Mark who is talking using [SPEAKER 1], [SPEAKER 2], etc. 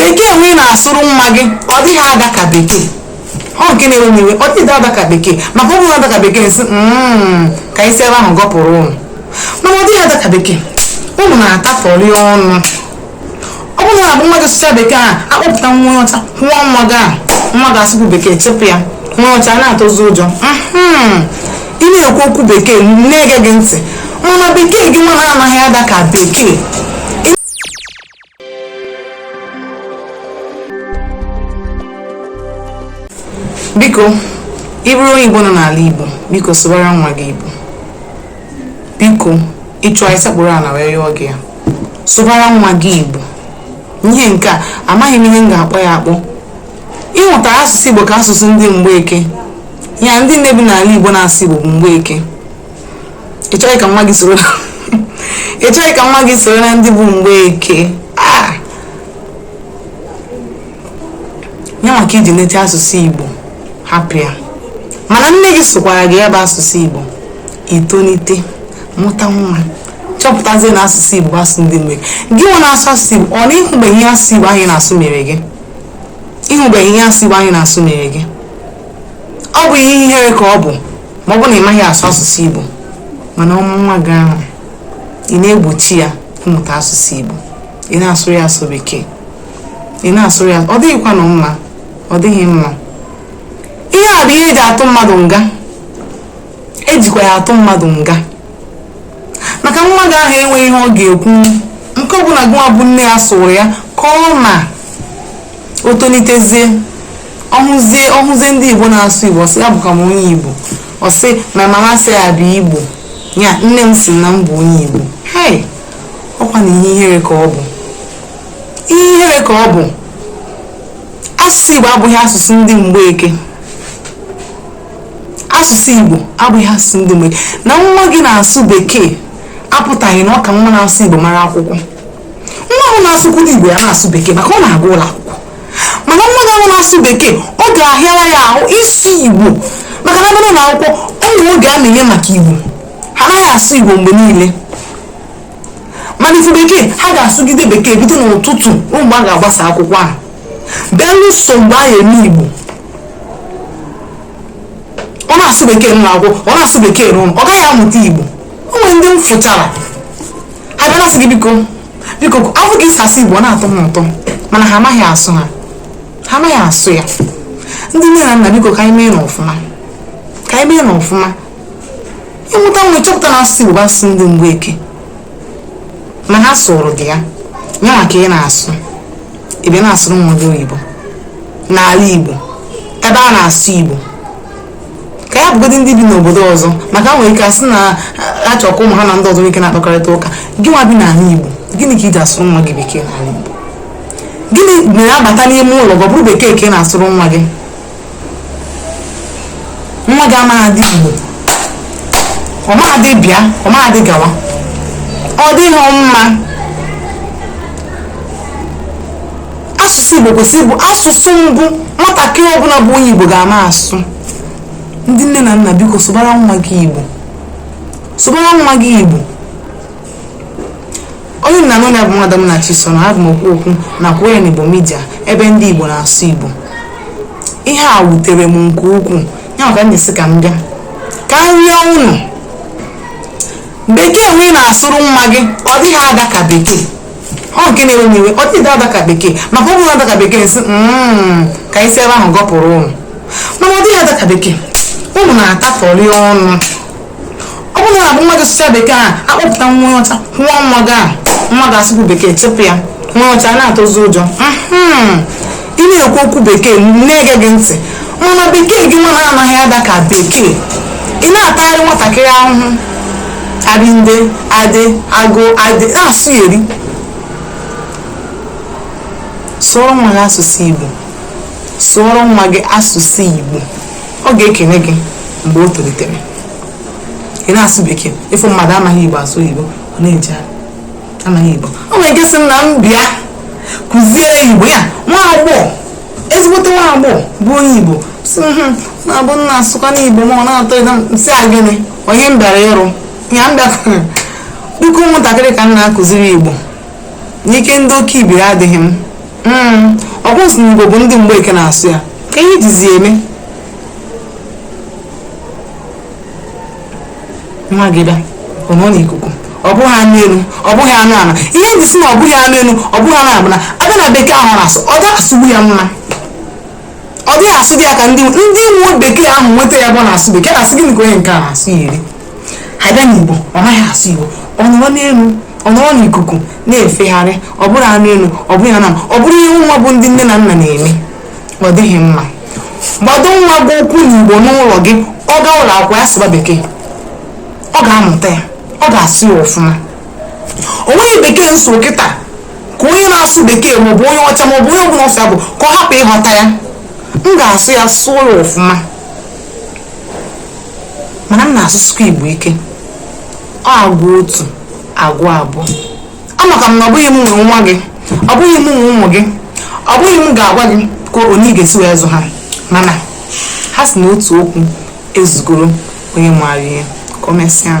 [SPEAKER 1] bekee nwa ị na-asụrụ nwa gị ọ dịghị ada ka bekee ọ nke na-ewe m iwe ọ dịghị ada ka bekee maka ọ bụrụ ada ka bekee m sị "Mm, ka e si ebe ahụ gọpụrụ ụnụ mana ọ dịghị ada ka bekee ụnụ na-atafọrị ọnụ ọ bụrụ na abụ nwa gị sụcha bekee ahụ a kpọpụta nwa onye ọcha nwa nwa gị ahụ nwa gị asụpụ bekee chepụ ya nwa ọcha a na-atụzi ụjọ Mhm. ị na-ekwu okwu bekee na-ege gị ntị mana bekee gị nwa anaghị ada ka bekee biko ị bụrụ onye igbo nọ n'ala igbo biko sụbara nwa gị igbo biko ị chọọ anyị sekpuru ala wee yọọ gị ya sụbara nwa gị igbo ihe nke a amaghị m ihe m ga-akpọ ya akpọ ị hụtara asụsụ igbo ka asụsụ ndị mgbeke ya ndị nne bi n'ala igbo na-asụ igbo bụ mgbeke ị chọghị ka nwa gị soro ị chọghị ka nwa gị soro na ndị bụ mgbeke ah! ya maka i ji nete asụsụ igbo hapụ ya mana nne gị sụkwara gị ya bụ asụsụ igbo i tonite mụta nwa chọpụtazie na asụsụ igbo bụ asụsụ ndị mgbeke gị nwa na-asụ asụsụ igbo ọ na ị hụbeghị ihe asụsụ igbo anyị na-asụ mere gị ị hụbeghị ihe asụsụ igbo anyị na-asụ mere gị ọ bụ ihe ihere ka ọ bụ ma ọ bụ na ị maghị asụ asụsụ igbo mana ọ bụ nwa gị ahụ ị na-egbochi ya ịmụta asụsụ igbo ị na-asụrụ ya sọ bekee ị na-asụrụ ya ọ dịghịkwanụ mma ọ dịghị mma ihe a bụ ihe e ji atụ mmadụ nga e jikwa ya atụ mmadụ nga maka nwa gị ahụ enweghị ihe ọ ga-ekwu nke ọbụla gị nwa bụ nne ya sụrụ ya ka ọ ma o tonitezie ọ hụzie ọ hụzie ndị igbo na-asụ igbo ọ sị ya abụkwa m onye igbo ọ sị my mama say I be igbo ya nne m sị na m bụ onye igbo hei ọ kwanụ ihe ihere ka ọ bụ ihe ihere ka ọ bụ asụsụ igbo abụghị asụsụ ndị mgbeke asụsụ igbo abụghị asụsụ ndị mgbeke na nwa gị na-asụ bekee apụtaghị na ọ ka nwa na-asụ igbo mara akwụkwọ nwa ahụ na-asụkwuru igbo ya-asụ bekee maka ọ na-aga ụlọ akwụkwọ mana nwa gị ahụ na-asụ bekee ọ ga-ahịara ya ahụ ịsụ igbo maka na a bịa n'ụlọ akwụkwọ o nwere oge a na-eme maka igbo ha anaghị asụ igbo mgbe niile mana ị fụ bekee ha ga-asụgide bekee bido n'ụtụtụ mgbe a ga-agbasa akwụkwọ belụsọ mgbe a ga-eme igbo ọ na-asụ bekee n'ụlọ akwụkwọ ọ na-asụ bekee n'ụlọ ọ gaghị amụta igbo o nwere ndị m fụchara ha bịara sị gị biko biko afụ ka i si asụ igbo ọ na-atọ m ụtọ mana ha amaghị asụ ha ha amaghị asụ ya ndị nne na nna biko ka anyị meenụ ọfụma ka anyị meenụ ọfụma ịmụta nwa ịchọpụta na asụsụ igbo bụ asụsụ ndị mgbeke ma ha sụrụ dị ya ya maka ị na-asụ ebe ị na-asụrụ nwa gị oyibo n'ala igbo ebe a na-asụ igbo ka ya bụgodị ndị bi n'obodo ọzọ maka e nwere ike ịsị na a chọ ka ụmụ ha na ndị ọzọ nwere ike na-akpakọrịta ụka gị nwa bi n'ala Igbo gịnị ka ị ji asụrụ nwa gị bekee n'ala Igbo gịnị mere a bata n'ime ụlọ gị ọ bụrụ bekee ka ị na-asụrụ nwa gị nwa gị amaghị dị Igbo ọ maghị dị bịa ọ maghị dị gawa ọ dịghị mma asụsụ igbo kwesịrị ịbụ asụsụ mbụ nwatakịrị ọbụla bụ onye igbo ga-ama asụ ndị nne na nna biko sụbara nwa gị igbo sụbara nwa gị igbo onye unu na-anụ olu ya bụ nwada Munachiso na abụ m okwu okwu na kwuo ya n'igbo media ebe ndị igbo na-asụ igbo ihe a wutere m nke ukwuu ya maka m ji sị ka m bịa ka m rịọ unu bekee nwa ị na-asụrụ nwa gị ọ dịghị ada ka bekee ọ nke na-ewe m iwe ọ dịghị ada ka bekee maka ọ bụrụ na-ada ka bekee m sị Mm, ka e si ebe ahụ gọpụrụ ụnụ mana ọ dịghị ada ka bekee ụnụ na-atafọrị ọnụ ọ bụrụ na abụ nwa gị sụchaa bekee a akpọpụta nwa onye ọcha nwa nwa gị a nwa gị asụkwuo bekee chụpụ ya nwa onye ọcha a na-atụzi ụjọ Mhm. ị na-ekwu okwu bekee na-ege gị ntị mana bekee gị nwa na-anaghị ada ka bekee ị na-atagharị nwatakịrị ahụhụ arịnde adị agụ adị na-asụ ya eri sụọrọ nwa gị asụsụ igbo sụọrọ nwa gị asụsụ igbo ọ ga-ekene gị mgbe o tolitere ị na-asụ bekee ịfụ mmadụ amaghị igbo asụ igbo ọ na-eje amaghị igbo o nwere nke sị m na m bịa kụziere ya igbo ya nwa agbọghọ ezigbote nwa agbọghọ bụ onye igbo sị m "Hmm, na-abụ nna asụkwa n'igbo ma ọ na-atọ ịda m sị ya gịnị onye m bịara ịrụ ya m bịakwara biko ụmụntakịrị ka m na-akụziri igbo ike ndị okeibiri adịghị m Mm, ọ bụ a sị na igbo bụ ndị mgbeke na-asụ ya ka ihe jizi eme nwa gị bịa ọ nọ n'ikuku ọ bụghị anụ elu ọ bụghị anụ ala ihe m ji sị na ọ bụghị anụ elu ọ bụghị anụ ala bụ na a bịa na bekee ahụ na-asụ ọ dịghị asụgbu ya mma ọ dịghị asụ dị ya ka ndị ndị nwe bekee ahụ nweta ya bụ ọ na-asụ bekee na-asị gịnị ka onye nke a na-asụ ya eri a bịa n'igbo ọ naghị asụ igbo ọ nọrọ n'elu ọ nọrọ n'ikuku na-efegharị ọ bụrụ anụ elu ọ bụghị anụ ala ọ bụrụ ihe nwa bụ ndị nne na nna na-eme ọ dịghị mma gbado nwa gị ụkwụ n'igbo n'ụlọ gị ọ gaa ụlọ akwụkwọ ya sụba bekee ọ ga-amụta ya ọ ga-asụ ya ọfụma o nweghị bekee m sụọ kịta ka onye na-asụ bekee maọbụ onye ọcha maọbụ onye ọbụla ọ sọ bụ ka ọ hapụ ịghọta ya m ga-asụ ya sụọ ya ọfụma mana m na-asụsụkwa igbo ike ọ agwa otu agwa abụọ amakwa m na ọ bụghị m nwe nwa gị ọ bụghị m nwe ụmụ gị ọ bụghị m ga-agwa gị ka onye ị ga-esi wee zụ ha mana ha sị na otu okwu ezugoro onye maara ihe ka o mesịa